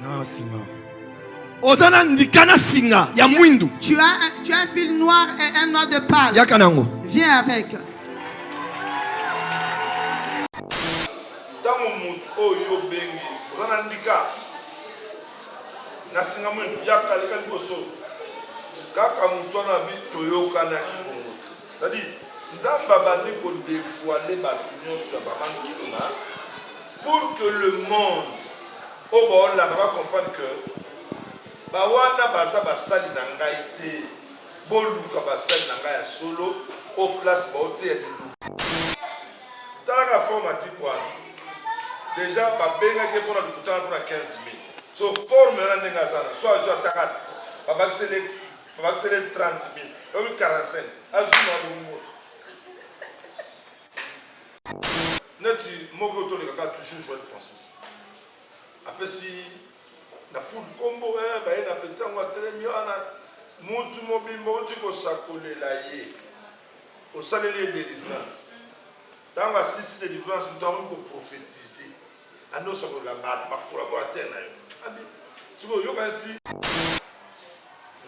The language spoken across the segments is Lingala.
Na singa. Oza na ndika na singa ya mwindu. Tu as un, tu as un fil noir et un noix de pal. Yaka nango. Viens avec. Tango mutu oyo yo bengi, oza na ndika na singa mwindu, yaka leka liboso. Kaka mutu wana abi toyokanaki. Sadi Nzambe abandi ko devoiler bato nyonso ya ba mami Kiluna pour que le monde oyo baolanda ba comprendre que ba wana baza basali na ngai te, boluka basali na ngai ya solo o place baoteya liloba. Talaka forme atiku wana deja babengaki ye mpona lokuta wana mpona 15 mai so forme wana ndenge aza na so azwi ataka babakiseli Obakisele 30 mil. Obi 45. Azwi mwa bongo. Neti moko toleka kaka toujours Joël Francis. Apesi na foule nkombo eh, baye na peti yango atelemi wana mutu mobimba oti kosakolela ye osaleli ye délivrance ntango asisi délivrance moto akoki koprofetize Ando sakola ba ba collaborateurs na yo. Abi siko yoka si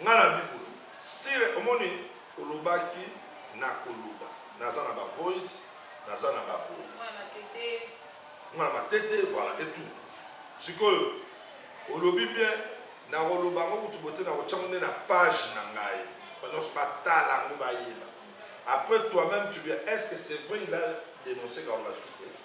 nga na bikulu sire omoni olobaki na koluba naza na ba voice naza na ba boye mwana matete voilà et tout sikoyo olobi bien nakoloba yango kutu bote nakotya ngo nde na page na ngai banyonso batala yango bayeba après toi-même tu viens est ce que c'est vrai il a dénoncé kaola juste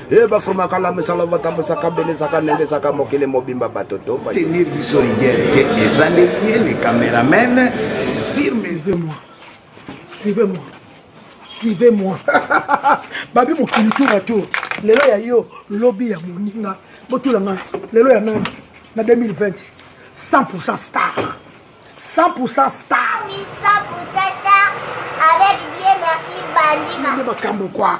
e bafumaka lamisala batambusaka belisaka nengesaka mokili mobimba bato to tenir biso rigere te eza nde ye le cameraman sur moi suivez moi suivez moi babi mokili tour à tour lelo ya yo lobi ya moninga botula ngai lelo ya nani na 2020 100 star 100 star oui, 100 star avec bien merci bandina nde makambo kwa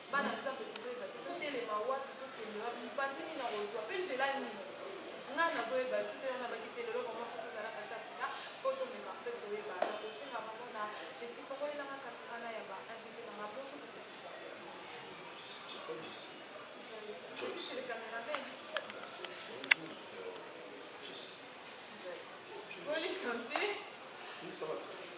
Bana Nzambe, tozoyeba te totelema wapi, tokende wapi, mopanzi nini akozwa, mpe nzela nini. Ngai nazoyeba te, nde wana nalobaki te lelo vraiment fo tozala katatina mpo tomeka mpe koyeba. Nakosenga vraiment na Jessie fongolela ngai camera na ya ba invites na ngai. Bonjour Mister Joyce. Joyce c'est le cameraman. Bonne santé. Oui, ça va très bien.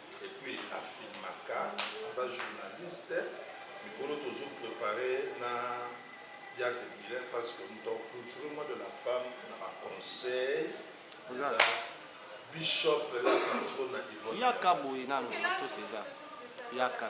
et puis a filmaka aza journaliste mikolo tozo prepare na diacre bilain parce que moto aclouture mois de la femme na ba conseil eza bishop la patrona ivone yaka boye nanu matos eza yaka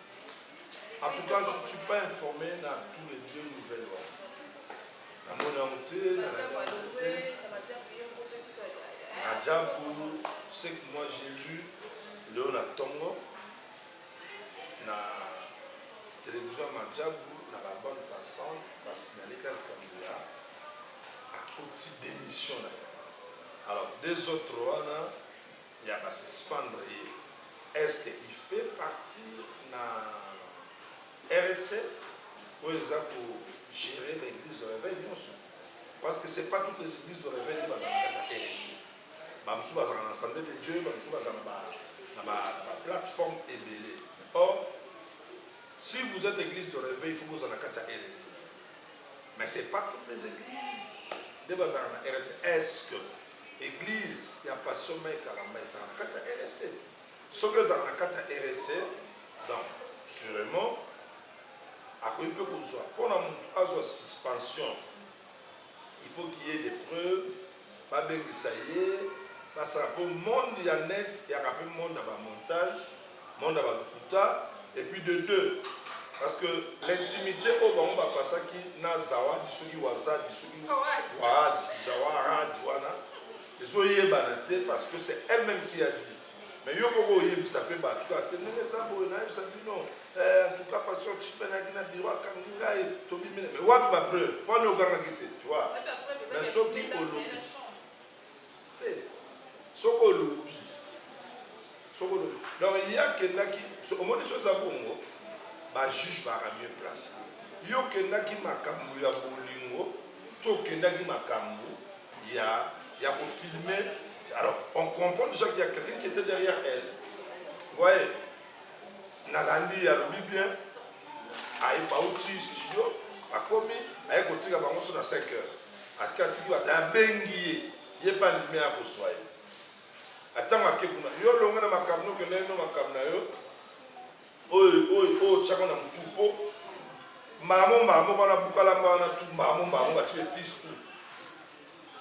En tout cas, je ne suis pas informé na tous les deux nouvelles wana. Na moni yango te, na Rajabu, ce que moi j'ai vu leo na ntongo na televizio ya Majabu na ba bande passante basignaleka likambo ya akoti démission na ye. Alors deux autres wana ya ba suspendre ye est ce que il fait partir na RSA oyo eza ko gerer ba eglise de reveil nionso parce que c'est pas toutes les eglises de reveil nde bazalaka na RSA ba mosusu bazalaka na assemblée de Dieu ba mosusu bazala na ba na ba, ba plateforme ebele or si vous êtes église de reveil il faut que vous en ayez kati ya RSA mais c'est pas toutes les églises nde bazalaka na RSA est ce que Eglise ya pasteur Mike Kalambay ezalaka na kati ya RSA? Soki ezalaka na kati ya RSA, donc surement akoki mpe kozwa. Mpo na motu azwa suspension, il faut qu'il y ait des preuves, babengisa ye, basala. Mpo monde ya net eyaka mpe monde ya ba montage. Monde ya ba lokuta et puis de deux parce que l'intimite oyo bango ba pasaki na zawadi soki wazadi soki waazi zawaradi wana ezo yebana te parce que c'est elle meme qui a dit mais yo koko oyebisa pe batu kaka te ndenge eza boye na yebisa bino eh, en tout cas passion chiben ayaki na biro akangi ngai tobimi mais wapi ba preuve wana ogangaki te tu vois mais soki olobi Te. Soki olobi, soki olobi. Donc ye akendaki, omoni soki eza bongo, ba juges ba ramier place. Yo okendaki makambu ya bolingo to okendaki makambu ya ya ko filmer? Alors on comprend dejà qu'il ya quelqu'un qui etait derrière elle. Vous voyez? Nalandi ye alobi bien, aye bawuti studio, bakomi, aye kotika bango sur na cinq heures. Ake atiki ba na bengi ye ye pe andimi aya kozua ye a tango ake kuna yo longwa na makambo no kende no makambo na yo oyo oyo oyo otiaka na mutu po mbala mo mbala moko wana buka lamba wana tu mbala mo mbala mo bati pe pise tu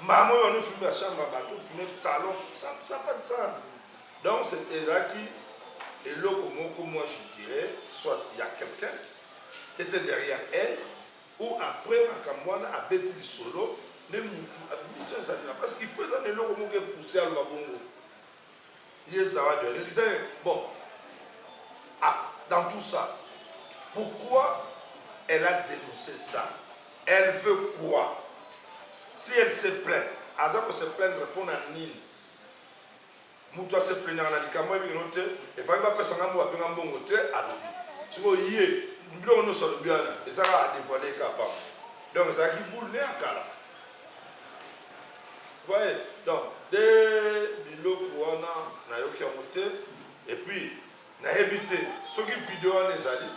mbala mo wana ofimi na chambre ya bato ofimi salon ça ça pas de sens donc c'est ezalaki eloko moko moi je dirais soit il y a quelqu'un qui était derrière elle Ou après makambo wana abeti lisolo nde mutu abimi son ezali na pasi il faut eza na eloko moko e pousser aloba bongo ye zawadi wana eza na bon a dans tout ça pourquoi elle a denoncer ça elle veut quoi si elle se plaint aza ko se plaindre pona nini Mutu a se plaignaka na likambo ayebi keno te et fallaki ba pesa nga mboka pe nga mbongo te alobi sikoyo ye biloko nionso alobi wana eza kaka a devoile kaka pamba donc ezalaki boule ne ya kala voye donc de biloko wana na yoki yango te et puis na yebi te soki video wana ezali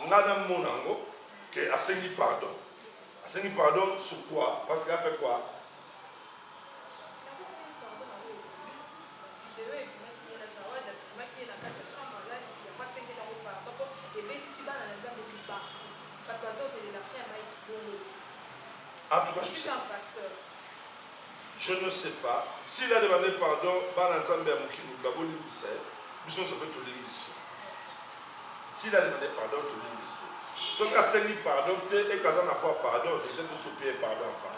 nga na mona yango que asengi pardon asengi pardon sur quoi parce que a fait quoi je ne sais pas s'il a demandé pardon bana nzambe ya mokili babolimbisa ye biso nyonso mpe tolimbisi S'il a demande pardon tu lui dis soki asengi pardon te et que aza na foi pardon dejà to sopi ye pardon avant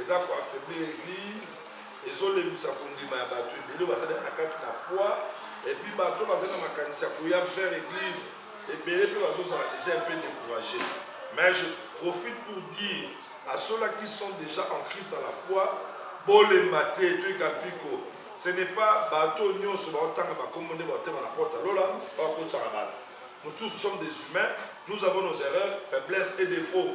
eza ko affaiblir eglise ezo lembisa kondima ya bato ebele bazali na kati na foi et puis bato bazali na makanisi ya koya vers eglise ebele mpe bazozala déjà un peu découragé mais je profite pour dire à ceux-là qui sont déjà en Christ à la foi bolemba te toyika mpiko ce n'est pas bato nyonso baotanga bakombo nde baotema na porte ya lola bakotisaka bato nous tous sommes des humains nous avons nos erreurs faiblesses et défauts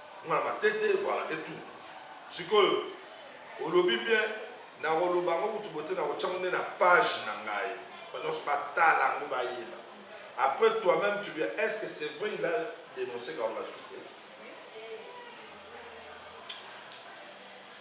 Nga matete voilà et tout sikoyo olobi bien nakoloba yango kutu bote nakotia yango nde na page na ngai batu nionso batala yango bayeba après toi meme tu viens est ce que c'est vrai il a denonce Garouba Justin?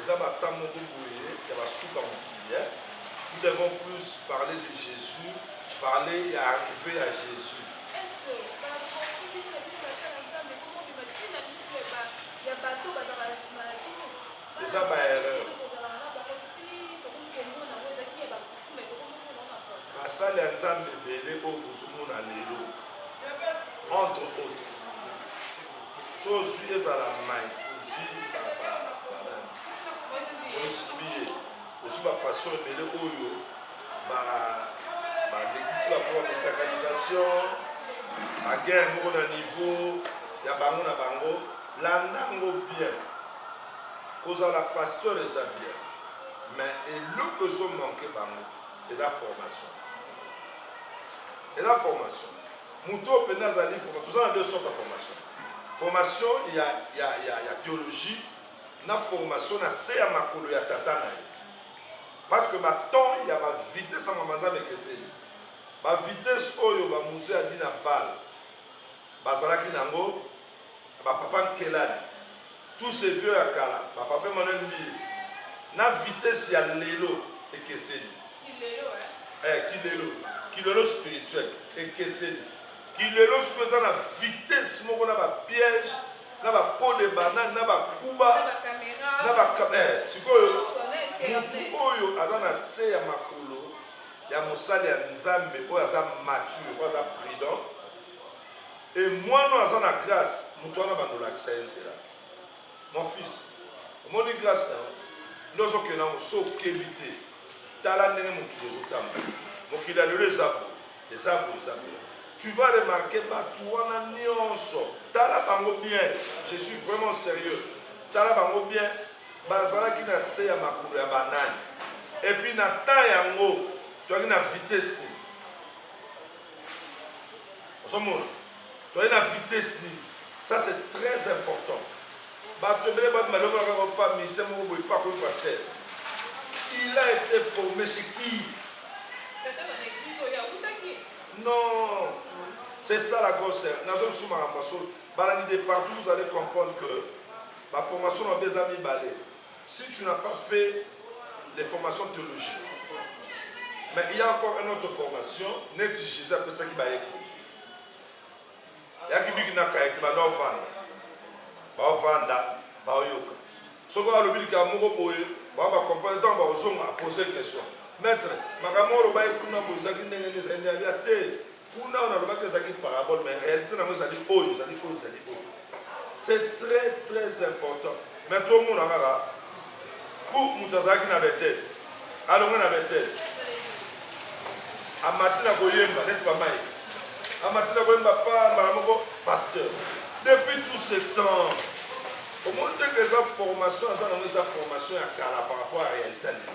Eza ba temps moko boye ya ba suka mokili hein. Nous devons plus parler de Jesus, parler ya arrivee ya Jesus. Eza ba erreur. Basali ya Nzambe ebele oyo bozomona lelo entre autres. So ozui ezala mai ozui ozibiye ozui bapaso ebele oyo balekisi bapo ya kotakalisation baguerre moko na niveau ya bango na bango landa yango bien kozala pasteur eza bien mais eloko ezomanke bango eza formation eza formation Mutu oyo penza azali forma toza na deux sortes ya formation formation ya ya ya ya theologie na formation na se ya makolo ya tata na ye parce que ba temps ya ba vitesse ya mama nzambe ekeseni ba vitesse oyo ba muze adi na bal bazalaki na yango ba papa nkelani tout ce vieux ya kala ba papa Emmanuel mbiye na vitesse ya lelo ekeseni eh kilelo kilelo spirituel ekeseni kilelo siko eza na vitesse moko na ba piège na ba pot de banane na ba kuba na ba eh, sikoyo mutu oyo aza na se ya makolo ya mosali ya nzambe oyo aza mature oyo aza prudent Et muana oyo aza na grace mutu wana banda olakisa ye nzela mon fils omoni grace na yo nde ozo kende na ngo so okebi te tala ndenge mokili ezo tambola mokili ya lelo eza boye eza boye eza boye tu vas remarquer batu wana nionso tala bango bien je suis vraiment serieux tala bango bien bazalaki na se ya makolo ya banani et puis na temps yango toyaki na vitesse ozomona toye na vitesse nini ça c'est très important bato ebele bato malongola kaka opa mise moko boye mpo akomi pasteur il a été formé chez qui non c'est ça la grosse nazo lisusu makambo ya solo balandi de partout vous allez comprendre que baformation na babe eza mibale Si tu n'as pas fait les formations theologie mais il ya encore un autre formation neti Jesus apesaki bayekoli yaki biki na kayete banda ovanda baovanda baoyoka soki alobi likambo moko boye bango bakomprendre ntango bakozonga apose question maître makambo oloba ye kuna boye ezalaki ndenge nde ezali nde abia te Kuna oyo nalobaki ezalaki parabole, mais realite nango ezali oyo, ezali oyo, ezali oyo. C'est très très important. Mais tomona kaka pour moto azalaki na Bethel, alonga na Bethel, amati na koyemba neti bamai, amati na koyemba pa mbala moko pasteur. Depuis tout ce temps, omoni te que eza formation aza nango eza formation ya kala par rapport ya realite ya lelo.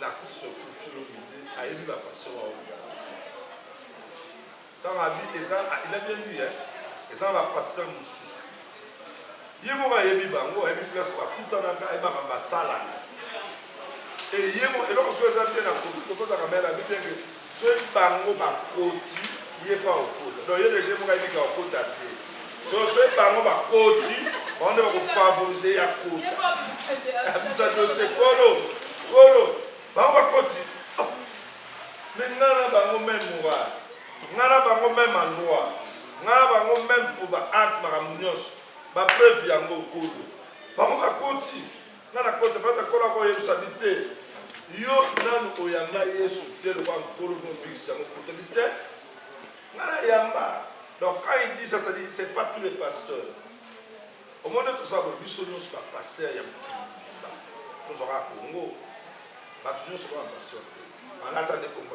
L'artiste surtout Philo Midi ayebi ba passion wa oyo. Tant abi eza il a bien dit hein. Eza ba passion mususu. Ye moko ayebi bango, ayebi place ba kutanaka, ayebi ba basala. Et ye moko eloko soki eza bien na komi kokota kamera abi bien que Soki bango bakoti ye mpe akokota donc ye dejà ye moko ayebi ke akokota te so soki bango bakoti bango nde bako favoriser ye akota abimisa dossier kolo kolo bango bakoti mais ngai na bango meme morale ngai na bango meme endroit ngai na bango meme mpo ba acte makambo nyonso ba preuve yango kolo bango bakoti nga na kota baza kola ko yebisa bi te yo nanu oyamba yesu te lokola nkolo mpe mobikisi yango kuta bi te nga na yamba donc quand il dit ça ça dit c'est pas tous les pasteurs omoni toza bo biso nyonso ba pasteur ya mokili mobimba tozwaka congo bato nyonso kaka pasteur te balata nde kombo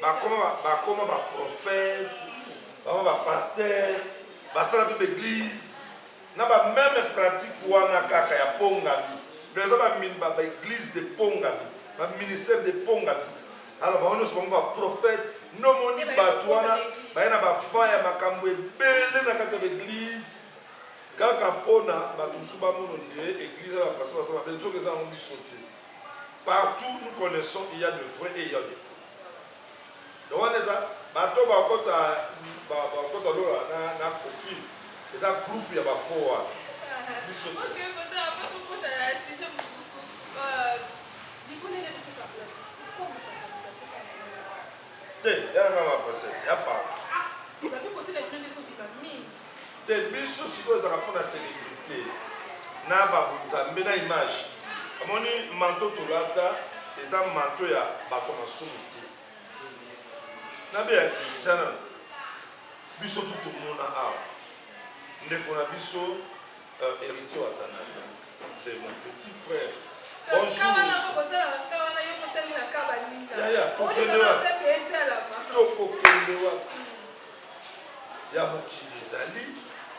bakoma bakoma ba prophète baba ba pasteur basala mpe baeglise na ba meme pratique wana kaka ya pongami donc eza baeglise de pongami baministère de pongami alors bango nyonso bango baprophète nomoni bato wana baye na bafa ya makambo ebele na kati ya baeglise kaka mpona bato mosusu bamono nde eglise ya bapasa basala mabe nzoka eza yango biso te Partout nous connaissons il ya de vrai et il ya de faux donc wana eza bato ba kota ba kota lola na na profil eza groupe ya ba faux wana biso te ya nga ba procès ya partout Te biso sikoyo ezaka pona celebrite na ba nzambe na image amoni manto tolata eza manto ya bato ya masumu te na be eza na biso tu tomona awa ndeko na biso euh, héritier watananda c'est mon petit frère bonjour yaya tokende wapi tokokende wapi ya mokili ezali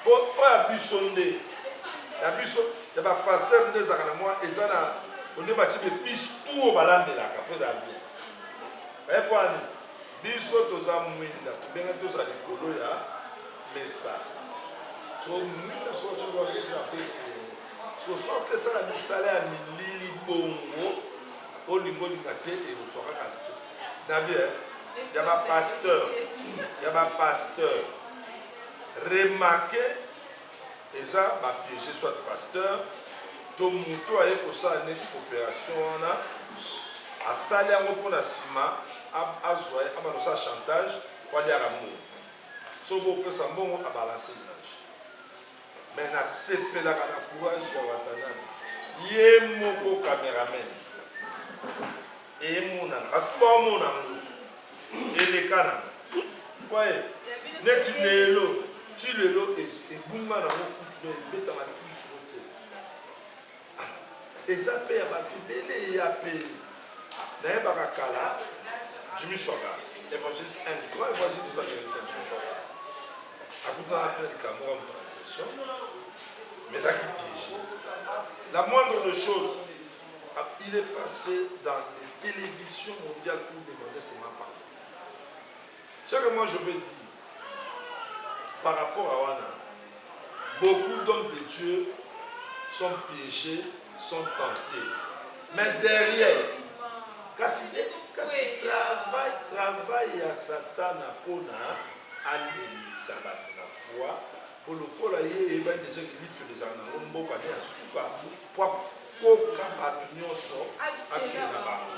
po oyo ya biso nde ya biso ya ba pasteur nde ezalaka na mwa eza na onde bati bepise tu oyo balambelaka po ezala bien baye po ani biso toza mwinda tobenge toza likolo ya mesa so mwinda socokoakesa pe sosoki esala misala ya milili bongo olingo olinga te ekozwa kaka Nabi eh, ya ba pasteur, ya ba pasteur. Remarquez eza ba piège soit pasteur to moto aye kosala neti coopération wana asali yango mpo na nsima azwa ye abanda kosala chantage po aliaka mbongo soki bopesa mbongo abalanse Mais na sepelaka na courage ya Watanabe. Ye moko cameraman. Et emonana. Batu ba omona ngo. Eleka na. Kwaye. Neti lelo. Ti lelo ebunga na ngo kutu ebeta na kutu. Eza pe ya batu ebele ya pe nayebaka kala Jimmy Shwaga evangeliste un grand evangeliste américain Jimmy Shwaga akutana pe likambo ya monalisation mais ezaki piège la moindre de chose il est passé dans les télévisions mondiales pour demander seulement pardon Ce que moi je veux dire par rapport à Wana, beaucoup d'hommes de Dieu sont piégés, sont tentés. Mais derrière, kasi, kasi travail, travail ya Satana pona alendisa bato na foi mpo lokola ye eyebani deja kilifi ezala nango mboka nde ya suka mpo akoka bato nyonso akende na bango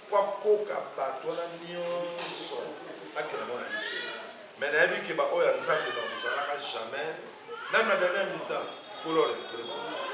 Po akoka bato wana nionso akela mwana lifelo. Mais nayebi que ba oyo ya Nzambe ba kozalaka jamais meme na dernière mi-temps Nkolo a recuperer bango.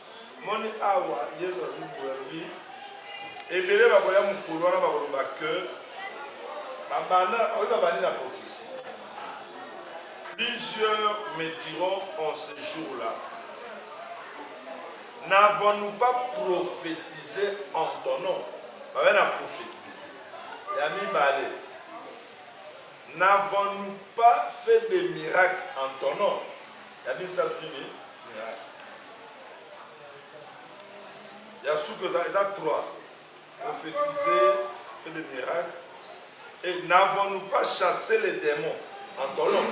Moni awa Yezu alobi boye, alobi ebele bakoya mokolo wana bakoloba que babanda oyo babandi na prophetie. Plusieurs me diront en ce jour-là, n'avons-nous pas prophétisé en ton nom? Babe na prophétise ya mibale, n'avons-nous pas fait des miracles en ton nom? Ya misato nini? Ya suka eza eza trois. Prophétiser, faire des miracles. Et n'avons-nous pas chassé les démons en colonne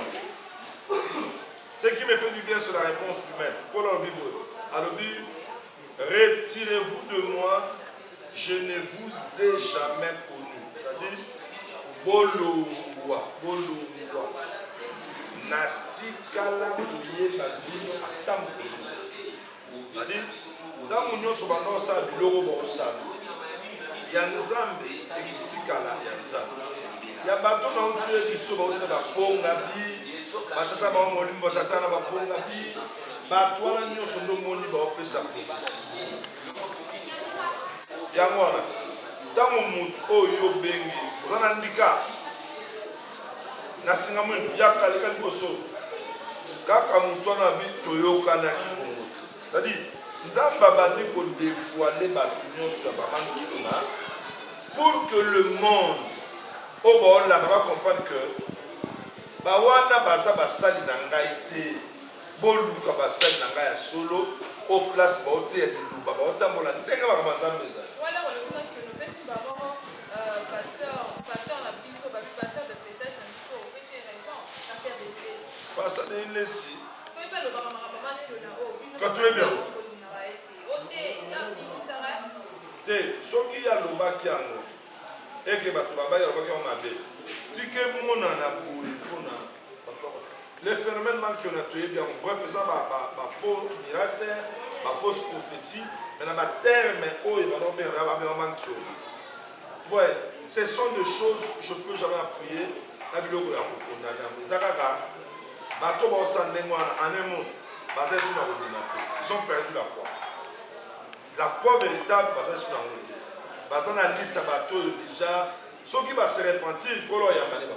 Ce qui me fait du bien, c'est la réponse du maître. Kolo alobi boye, alobi Retirez vous de moi je ne vous ai jamais connu ça dit bolongwa bolongwa natikala koyeba bino ata mokolo adi ntango nyonso banda kosala biloko bakosala ya nzambe ekotikala ya nzambe ya bato na otie biso bauti na bapongabi batata bango molimo batata na bapongabi bato wana nyonso nde omoni baopesa profesi yango wana ntango motu oyo yo obengi oza na ndika na singa mwendo yaka leka liboso kaka motu wana abi toyokanaki bongo te cetadire nzambe abandi kodevoile bato nyonso ya bamangilo na pour que le monde oyo baolanda bacomprendre que bawana baza basali na ngai te Boluka basali na ngai ya solo o place baoteya Liloba, baotambola ndenge makambo ya Nzambe ezali. Pasteur Denis Lessi, kati oyebi yango te? Soki ye alobaki yango eke bato babaki, alobaki yango mabe, tika emonana boye mpo na Les phénomènes manque on a tué bien bref ça ba ba ba faux miracle ba fausse prophétie mais na ba terme oyo ba non bien na ba bien manque ouais ce sont des choses je peux jamais appuyer na biloko ya ko condamner mais ça kaka bato ba osa ndenge wana en un mot baza sur la communauté ils ont perdu la foi la foi véritable baza sur la communauté baza na liste ya bato oyo déjà soki ba se repentir kolo ya maliba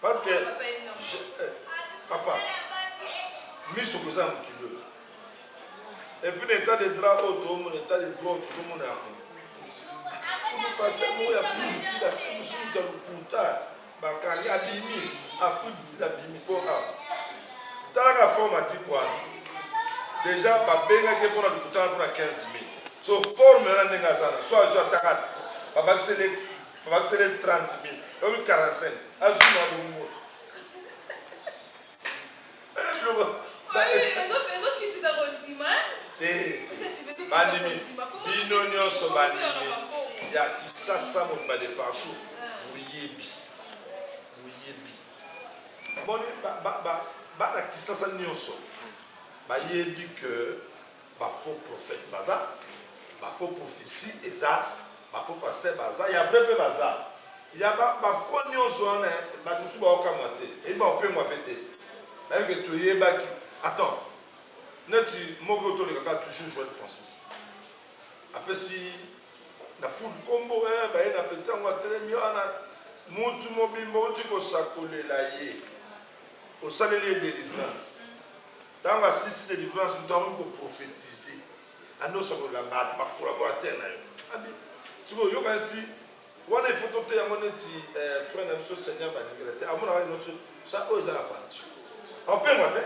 Parce que je, eh, papa miso koza mokili oyo epuis na état de droit oyo toomona état de droit tozomona yango kutupasango ya filisila simusuta lokuta bakangi abimi afilisila abimi mpo a talaka forme atiki wana déjà babengaki mpona lokuta mpona 15 000 so forme wana ndenge aza na so azwi ataka babakisele Obakisele 30 mil. Obi 45. Azwi mwa bongo. bandimi bino nyonso bandimi ya kisasa mobimba de partout boyebi boyebi boni bana kisasa nyonso bayebi que Ba faux prophète baza, ba faux prophetie eza, ba faux pharsais baza, ya vrai pe baza. Ya ba ba faux nionso wana batu mosusu bao kamwa te, eyi bao pengwa pe te. Bayebi ke toyebaki. Attends, neti moko oyo toleka kaka toujours Joel Francis apesi na foule kombo eh baye na petit yango atelemi wana mutu mobimba outi kosakolela ye osaleli ye delivrance Tango asilisi delivrance mutu akomi ko prophetise andosakolela bato ba collaborateur na yo abi sikoyo yokanisi wana il faut toteya yango neti eh, frère na biso seigneur balingela te amonaka ino ti sa oyo eza aventure aopengwa te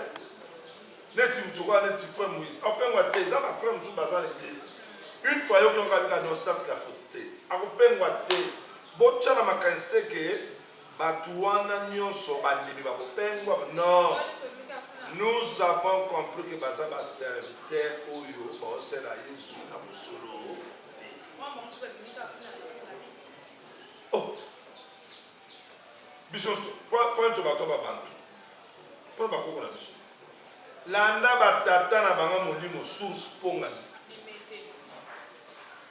neti mutu okoya neti frère moïse aopengwa te eza ba frère mosusu baza na église une fois yoki yango abika no sasi la faute te akopengwa te botya na makanisi te ke Batu wana nionso bandimi ba kopengwama? Non nous avons compris que baza ba serviteurs oyo bao sela yezu na mosolo te. Oh biso nionso pona to bato ba bantu pona ba koko na biso landa ba tata na banga molimo source pongani.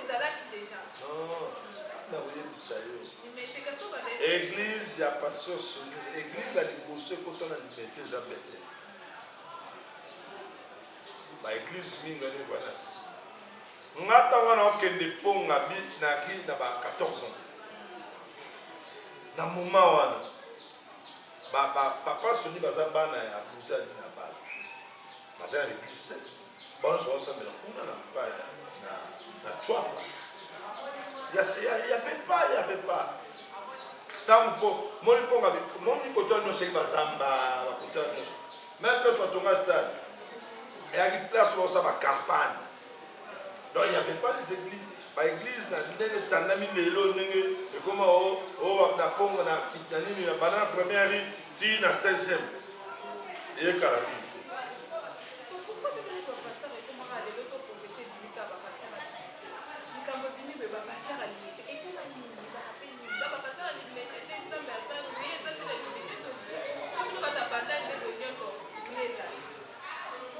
ezalaki deja nakoyebisa yo eglize ya pasteur sonis eglize ya liboso ekota na limete eza betel baeglize mingi ani wana si nga ntango wana okende mponga bi naki na ba 14 ans na moma wana papa soni baza bana ya bozadi na bana baza na leglise Banso basambela kuna na mpaya na na Chwapa. Ya ya ya pepa ya pepa. Tango po moni ponga moni kotoa nyonso ye bazamba bakotoa nyonso. Même place batonga stade. Eyaki place baosa ba campagne. Donc il n'y avait pas les églises. Ba églises na ndenge etandami lelo ndenge ekoma o o na Congo na na nini na banana première rue Tii na 16 ème eye kala mingi te.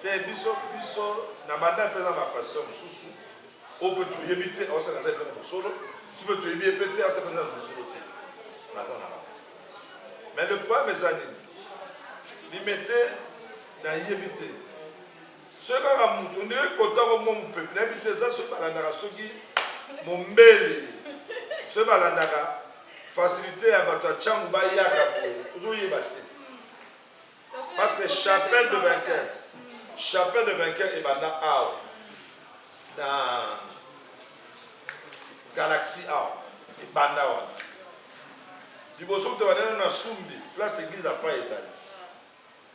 te biso biso na banda mpe na bapasteur mosusu oyo mpe toyebi te aosaka aza epe na mosolo biso mpe toyebi ye mpe te aza mpe na mosolo te naza na Mais le problème eza nini? Limete na yebi te. Soki kaka mutu nde kota ko mwa mupepe na yebi te eza soki balandaka soki mombele soki balandaka facilité ya bato ya cangu bayaka boye ozoyeba te Parce que chapelle de vainqueur, chapelle de vainqueur et banda awa dans galaxie awa et banda awa. Liboso kutu banda na Sumbi, place église à Fay ezali.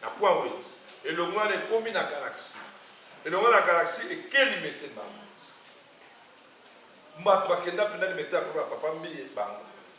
Na point wet. Et le mois est commis na galaxie. Et le mois la galaxie est quel mettait bango. Mbato bakenda penda limete ya papa mbiye bango.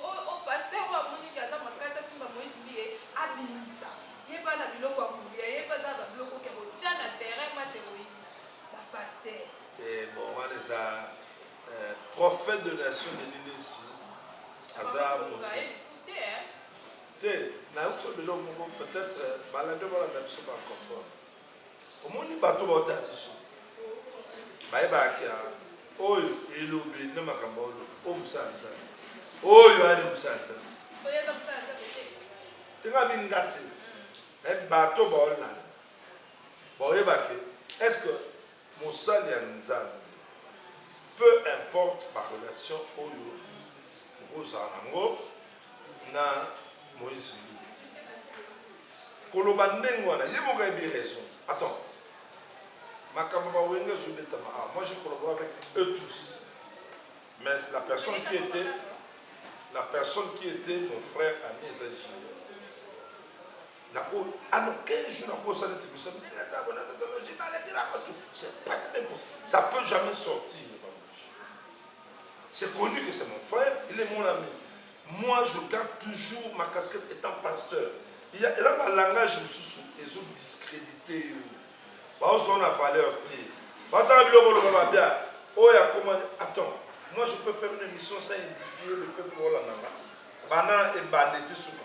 Oyo pasteur oyo amoni ke aza makasi asunga Moïse mbiye abimisa ye pa na biloko ya kolia ye pe aza na ba biloko oke kotia na terrain match ekoyinda ba pasteur. Eeh bon wana eza prophète de nation Denis Lessi aza mutu te nayoki biso moko peut-être balanda balanda biso ba comprendre Omoni bato bauta ya biso bayebaka ke oyo elobeli na makambo ya olobi oyo mosala nzambe oyo ani mosala nzambe tenga minga te me bato baolanda baoyebake estce Mosali ya Nzambe, peu importe ba relations oyo okozala na yango na Moïse Mbiye, koloba ndenge wana, ye moko ayebi raison. Attends, makambo ya ba wenge ezo betama awa, moi je collabore avec eux tous, mais la personne qui etait, la personne qui etait mon frère ami eza JB. Nako, ano, quel jour nako osala ete biso neza bona totolo jima la dira ko tout. C'est pas très bon. Ça peut jamais sortir de ma bouche. C'est connu que c'est mon frère, il est mon ami. Moi, je garde toujours ma casquette étant pasteur. Il y a là ma langage mususu ezo discréditer yo. Ba ozo na valeur te. Ba ta biloko loba ba bien. Oh ya comment attends. Moi, je peux faire une émission sans édifier le peuple Rwanda. Bana et bandit souka.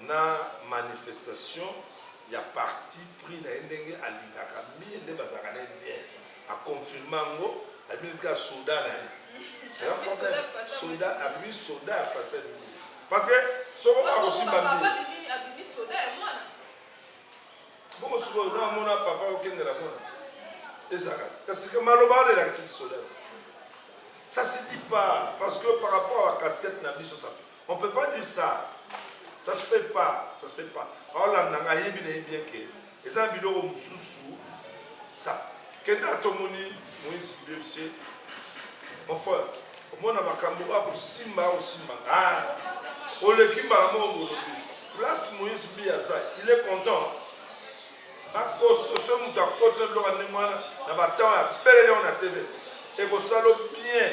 na manifestation ya parti pris na ye ndenge alingaka mie nde bazalaka na ye bien a confirme yango abimi kaka soda na ye eza problème soda abimi soda ya pasi abimi parce que soko akosimba mie bongo sikoyo na amona papa okendela mona ezalaka kasi maloba wana elakisi kisoda ça se dit pas parce que par rapport à casquette na biso ça On peut pas dire ça. Ça se fait pas, ça se fait pas. Aolanda nga yebi na yebi que eza biloko mususu ça. Kenda tomoni Moïse Bibse. Mon frère, omona makambo akosimba akosimba ah oleki mbala moko bolobi place moïse bi aza il est content bakosto so moto akota biloko ndenge wana na batemp ya belele wana tebe ekosala bien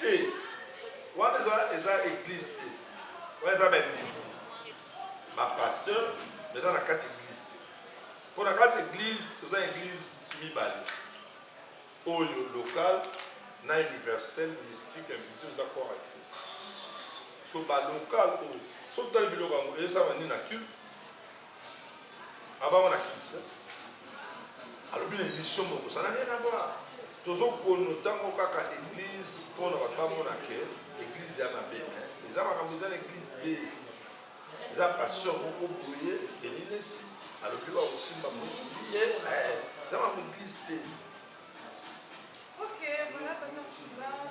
Te. Wana eza eza église te. Wana eza ba ba pasteur mais eza na kati église te. Mpo na kati église toza église mibale oyo local na universel mystique invisible eza corps ya Christ. Parce que ba local oyo soki tali biloko yango ezosala nini na culte Abanga na Christ. Alobi na emission moko ça n'a rien à voir. Tozo kono tango kaka église pona ba bango na ke église ya na bête. Eza makambo eza na église te. Eza pasteur moko boye elinesi alobi ba osimba mosi. Eh, eza makambo église te. OK, voilà parce que tu vas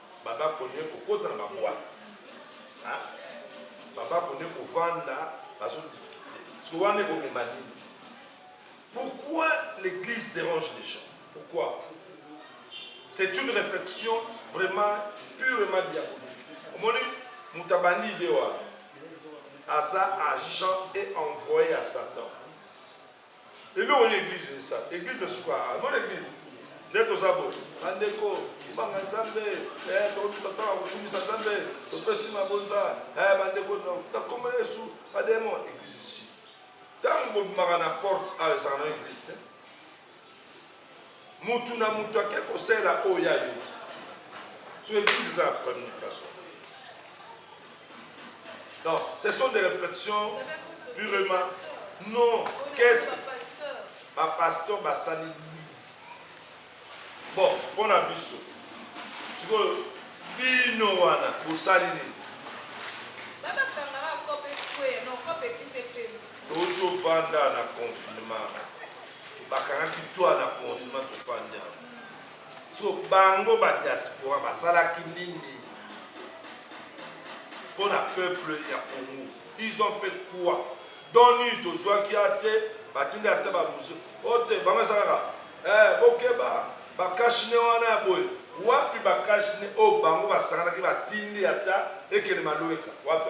Baba konye kokota na ba boite. Hein? Baba konye kovanda bazo discuter. Parce que wana ekomema nini? Pourquoi l'église dérange les gens? Pourquoi? C'est une réflexion vraiment purement diabolique. Omoni moto abandi idée wana aza agent et envoyé à Satan. Eloko nini eglise esala? Eglise esuka ah, non eglise nde toza boye bandeko kibanga nzambe eh, tokotutata kokumisa nzambe topesi mabonza eh, bandeko nakombo na yesu bademo eglise si ntango bobimaka na porte awa ah, ezalaka na eglise te Mutu na mutu ake kosela oyo ye ayoki. Sur eglise eza ya premier personne. Donc, ce sont des réflexions purement non. Qu'est-ce que ba pasteur basali nini? Bon, mpo na biso sikoyo bino wana bosali nini? Tojo vanda na confinement. bakangaki toi na confinement tofandi yango so bango ba diaspora basalaki nini mpo na peuple ya congo ils ont fait quoi don nini tozwaki ate batindi ata bamusu ote bango eza kaka eh, bokeba bakashine wana ya boye wapi bakashine oyo oh, bango basanganaki batindi ata ekende maloweka wapi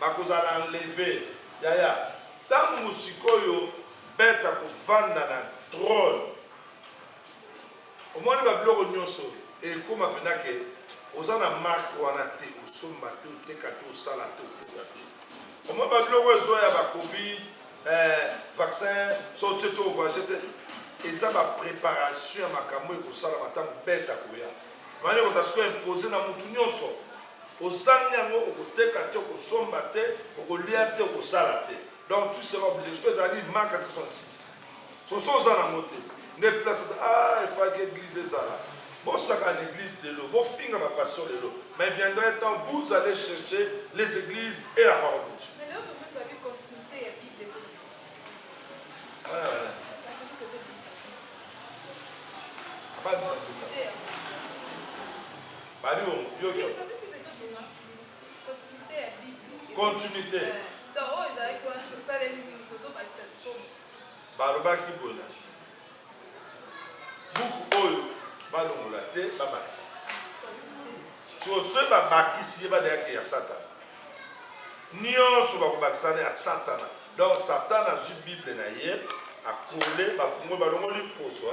Bakozala enleve yaya tangu sikoyo beth akovanda na trone omoni ba biloko nioso ekoma pena ke oza na marque wana te osomba te oteka te osala te okota te omoni ba biloko ezo ya ba covid eh, vaccin so otie te ovage te eza ba preparation ya makambo ekosalama tangu beth akoya mani ekozala sikoyo impose na mutu nioso Ozangi yango okoteka te okosomba te okolia te okosala te donc tu seras oblige soki ezali maka 66 soso oza nango te nde place oza ah efaki eglise ezala bosaka na eglise lelo bofinga ba pasteur lelo mais viendra un temps vous allez chercher les eglises et la parole de Dieu Pas de Baliongo, yo yo. Continuité. Balobaki boye na buku oyo balongola te babakisa siko soki babakisi ye badeyaki ya satana nyonso bakobakisana ya satana donc satana azwi bible na ye akole bafungoli balongoli poso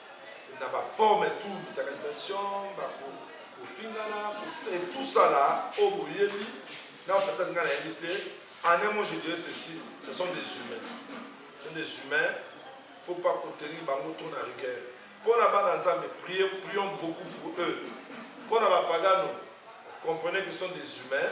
na ba forme tout militarisation ba kofingana et tout ça là oyo oh, boyebi na peut-être nga nayebi te en un mot je dirais ceci ce sont des humains ce sont des humains faut pas contenir bango trop na rigueur mpo na bana nzambe prier prions beaucoup pour eux mpo na bapagano comprenez que sont des humains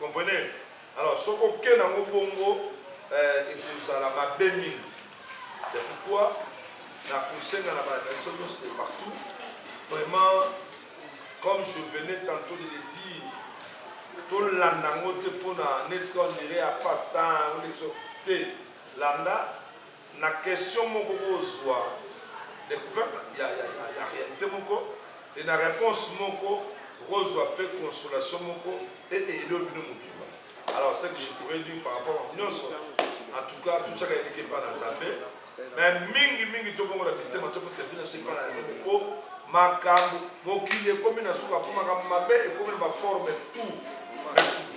Comprenez? Alors soki oke nango bongo eh, ekozala mabe mingi. C'est pourquoi nakosenga na bana biso nyonso de partout vraiment comme je venais tantôt de le dire tolanda yango te mpo na neti ondire ya pastan te landa na question moko bo zua decouverte ya realite moko et na reponse moko bo zua pe consolation moko et aider bino mobimba alors ce que je pourrais dire par rapport à nionso en tout cas tout chaka eliki epa na nzambe mais mingi mingi to bongo na mitema to pesa bino se epa na nzambe po makambo mokili ekomi na suka po makambo mabe ekomi na ba forme tout merci